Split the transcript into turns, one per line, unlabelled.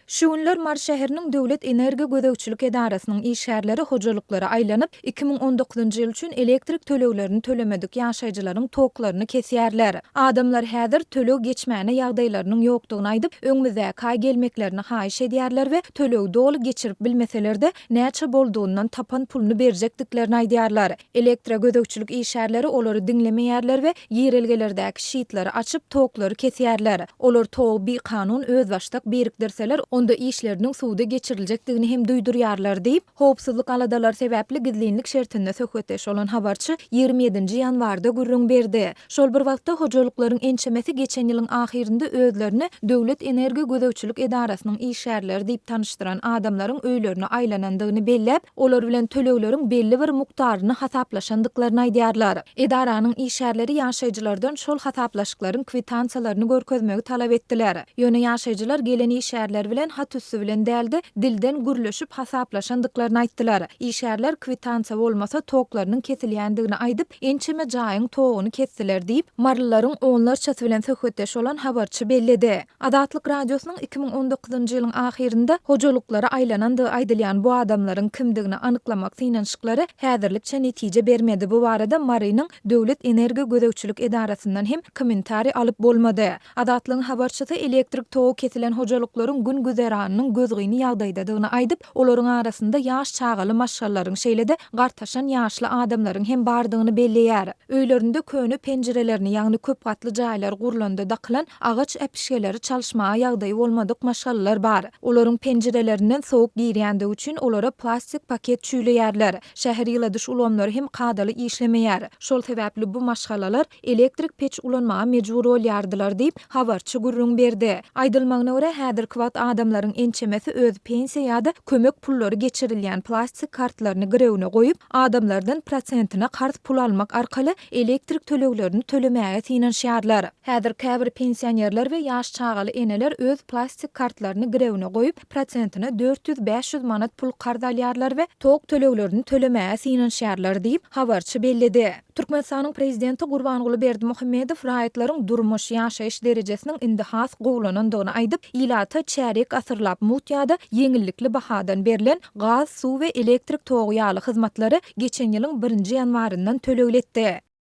Şu günler Mary şäheriniň Döwlet energiýa gözegçilik edarasynyň işgärleri hojalyklara aýlanyp, iki müň on dokuzynjy ýyl üçin elektrik töleglerini tölemedik ýaşaýjylaryň toklaryny kesýärler. Adamlar häzir töleg geçmäne ýagdaýlarynyň ýokdugyny aýdyp, öňümizdäki aý gelmeklerini haýyş edýärler we tölegi doly geçirip bilmeseler-de, näçe boldugyndan tapan puluny berjekdiklerini aýdýarlar. Elektra gözegçilik işgärleri olary diňlemeýärler we girelgelerdäki şitlary açyp, toklary kesýärler. Olar togy bikanun, özbaşdak birikdirseler, onda işleriniň suwda geçiriljekdigini hem duýdurýarlar diýip, howpsuzlyk aladalary sebäpli gizlinlik şertinde söhbetdeş bolan habarçy ýigrimi ýedinji ýanwarda gürrüň berdi. Şol bir wagtda, hojalyklaryň ençemesi geçen ýylyň ahyrynda özlerini Döwlet energiýa gözegçilik edarasynyň işgärleri diýip tanyşdyran adamlaryň öýlerine aýlanandygyny belläp, Olar bilen tölegleriň belli bir mukdaryny hasaplaşandyklaryny aýdýarlar. Edaranyň işgärleri ýaşaýjylardan şol hasaplaşyklaryň kwitansiýalaryny görkezmegi talap etdiler. Ýöne ýaşaýjylar gelen işgärler bilen hat üsti bilen däl-de, dilden gürleşip hasaplaşandyklaryny aýtdylar. Işgärler kwitansiýa bolmasa toklarynyň kesilýändigini aýdyp, ençeme jaýyň toguny kesdiler diýip, marylylaryň onlarçasy bilen söhbetdeş bolan habarçy belledi. Azatlyk Radiosynyň iki müň on dokuzynjy ýylyň ahyrynda hojalyklara aýlanandygy aýdylýan bu adamlaryň kimdigini anyklamak synanyşyklary häzirlikçe netije bermedi, bu barada Marynyň Döwlet energiýa gözegçilik edarasyndan hem kommentariý alyp bolmady. Azatlygyň habarçysy elektrik togy kesilen hojalyklaryň gün-güzeranynyň gözgyny ýagdaýdadygyny aýdyp, Olaryň arasynda ýaş çagaly maşgalalaryň, şeýle-de gartaşan ýaşly adamlaryň hem bardygyny belleýär. Öýlerinde köne penjirelerini, ýagny köp gatly jaýlar gurlanda dakylan agaç äpişgeleri çalyşmaga ýagdaýy bolmadyk maşgalalar bar. Olaryň penjirelerinden sowuk girýändigi üçin olara plastik paket çüýleýärler. Şäher ýyladyş ulgamlary hem kadaly işlemeýär. Şol sebäpli bu maşgalalar elektrik peç ulanmaga mejbur bolýardylar diýip, habarçy gürrüň berdi. Aýdylmagyna görä, häzirki wagt adamlaryň ençemesi öz pensiýa ýa-da kömek pullary geçirilýän plastik kartlaryny girewine goýup, adamlardan prosentine karz pul almak arkaly elektrik töleglerini tölemäge synanyşýarlar. Häzir käbir pensionerler we ýaş çagaly eneler öz plastik kartlaryny girewine goýup, prosentine dört ýüz, bäş ýüz manat pul karz alýarlar we tok töleglerini tölemäge synanyşýarlar diýip, habarçy belledi. Türkmenistanyň Prezidenti Gurbanguly Berdimuhamedow raýatlaryň durmuş, ýaşaýyş derejesiniň indi has gowulanandygyny aýdyp, ilata çärýek asyrlap mut ýa-da ýeňillikli bahadan berlen gaz, suw we elektrik togy ýaly hyzmatlary geçen ýylyň birinji ýanwaryndan tölegli etdi.